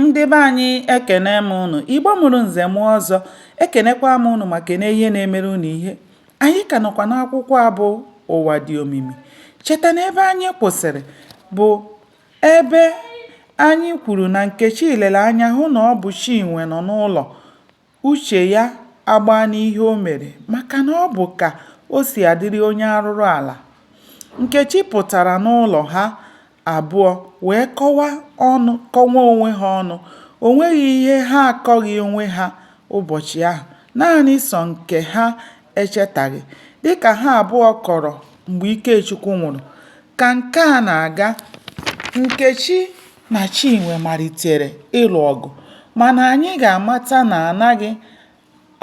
ndị be anyị ekene m ụnụ igbo mụrụ nze mụọ ọzọ ekenekwa m ụnụ ma kene ihe na-emere ụnụ ihe anyị ka nọkwa n'akwụkwọ a bụ ụwa dị omimi cheta na ebe anyị kwụsịrị bụ ebe anyị kwuru na nkechi lere anya hụ na ọ bụ chinwe nọ n'ụlọ Uche ya agbaa n'ihe o mere maka na ọ bụ ka o si adịrị onye arụrụala. Nkechi pụtara n'ụlọ ha abụọ wee kọwa ọnụ kọwa onwe ha ọnụ. O nweghị ihe ha akọghị onwe ha ụbọchị ahụ. Naanị sọ nke ha echetaghị. Dị ka ha abụọ kọrọ mgbe Ikechukwu nwụrụ, Ka nke a na-aga, Nkechi na Chinwe malitere ịlụ ọgụ mana anyị ga-amata na anaghị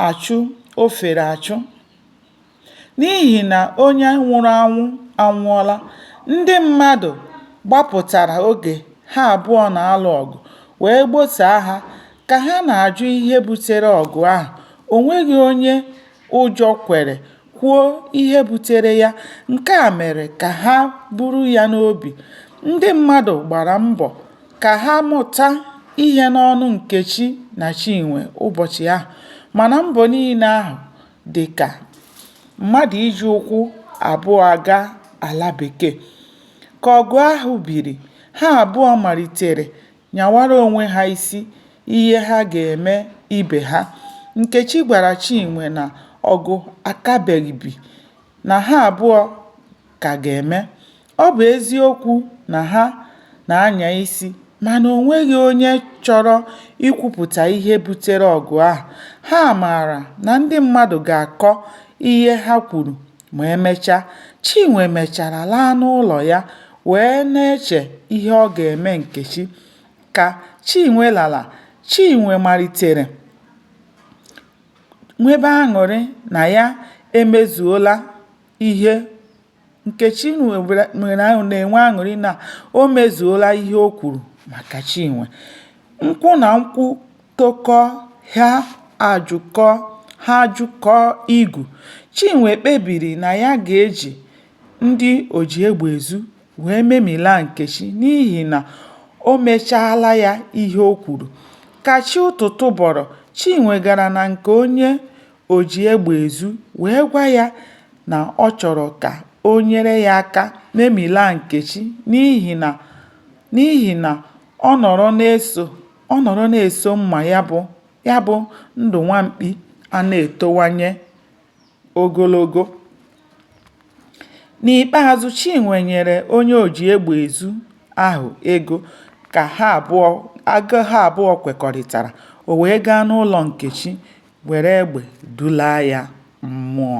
achụ ofere achụ n'ihi na onye nwụrụ anwụ anwụọla, ndị mmadụ gbapụtara oge ha abụọ na-alụ ọgụ wee gbosaa ha ka ha na-ajụ ihe butere ọgụ ahụ, o nweghị onye ụjọ kwere kwuo ihe butere ya, nke a mere ka ha buru ya n'obi. Ndị mmadụ gbara mbọ ka ha mụta ihe n'ọnụ Nkechi na Chinwe ụbọchị ahụ mana mbọ niile ahụ dị ka mmadụ iji ụkwụ abụọ aga ala bekee. Ka ọgụ ahụ biri, ha abụọ malitere nyawara onwe ha isi ihe ha ga-eme ibe ha. Nkechi gwara Chinwe na ọgụ akabeghị bi, na ha abụọ ka ga-eme. Ọ bụ eziokwu na ha na-anya isi mana o nweghị onye chọrọ ikwupụta ihe butere ọgụ ahụ. Ha maara na ndị mmadụ ga-akọ ihe ha kwuru Ma emechaa, Chinwe mechara laa n'ụlọ ya wee na-eche ihe ọ ga-eme Nkechi. Ka Chinwe lara, Chinwe malitere nwebe aṅụrị na ya emezuola ihe Nkechi na-enwe aṅụrị na o mezuola ihe o kwuru maka Chinwe. Nkwụ na nkwụ tokọ, ha ajụkọ, ha ajụkọọ igu, Chinwe kpebiri na ya ga-eji ndị oji egbe ezu wee memilaa Nkechi n'ihi na o mechaala ya ihe o kwuru. Ka chi ụtụtụ bọrọ, Chinwe gara na nke onye oji egbe ezu wee gwa ya na ọ chọrọ ka o nyere ya aka memilaa Nkechi n'ihi na ọ nọrọ na-eso ọ nọrọ na-eso mma ya bụ ya bụ ndụ nwa mkpi a na-etowanye ogologo. N'ikpeazụ, Chinwe nyere onye oji egbe ezu ahụ ego ka ha abụọ kwekọrịtara, o wee gaa n'ụlọ Nkechi were egbe dulaa ya mmụọ.